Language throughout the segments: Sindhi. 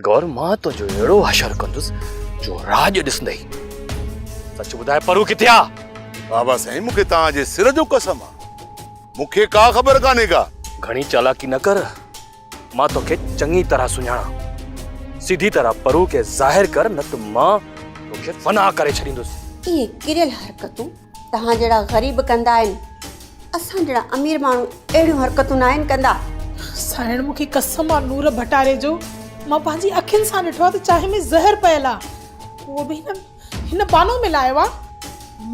گور مان تنهنجو اهڙو حشر ڪندس جو راڄ ڏسندي سچ ٻڌاء پرو ڪٿي آ بابا سائين مون کي توهان جي سر جو قسم آ مون کي ڪا خبر ڪانهي ڪا گهڻي چالاڪي نه ڪر مان توکي چڱي طرح سڃاڻان. سڌي طرح پرو کي ظاهر ڪر نه ته مان توکي فنا ڪري ڇڏيندس. اهي ڪريل حرڪتون توهان جهڙا غريب ڪندا آهن. اسان جهڙا امير ماڻهو اهڙيون حرڪتون ناهن ڪندا. سائڻ مون کي قسم آ نور ڀٽاري جو مان پنهنجي اکين سان ڏٺو آ ته چانهه ۾ زهر پيل آ اهو به هن هن بانو ملايو آ.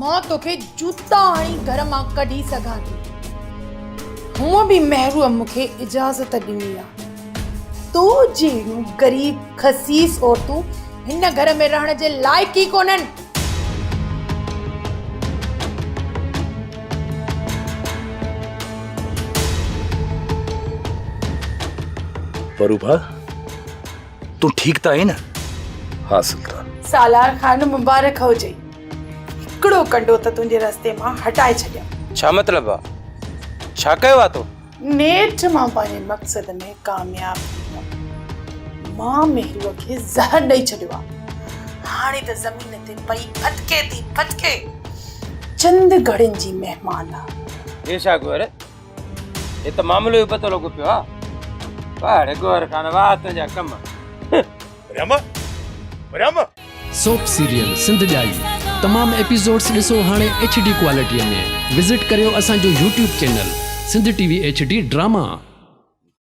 مان توکي جوتا هڻي گهر مان ڪڍي سگهان ٿي. هونء به مهروء مون کي اجازت ڏني آ. تو جهڙيون غريب خسيس عورتون هن گهر ۾ رهڻ جي لائق ئي ڪونهن. پروڀا! تون ٺيڪ ته آهين نه؟ ها سلطان. سالار خان مبارڪ هجئي. هڪڙو ڪنڊو ته تنهنجي رستي مان هٽائي ڇڏيم. ڇا مطلب آ؟ ڇا ڪيو آ تو؟ نيٺ مان پنهنجي مقصد ۾ ڪامياب ٿي ويم. مان مهروء کي زهر ڏئي ڇڏيو آ. هاڻي ته زمين تي پئي ڦٿڪي ٿي ڦٿڪي. چند گهڙين جي مهمان آ. جي شاهه گوهر هي ته معاملو ئي پتو لڳو پيو آهي پڙ گور خان واه تنهنجا ڪم رم رم سوپ سيريل سنڌ ڄائي تمام ايپيسوڊس ڏسو هاڻي ايڇ ڊي ڪوالٽي ۾ وزٽ ڪريو اسان جو YouTube channel Sindh T V H D drama.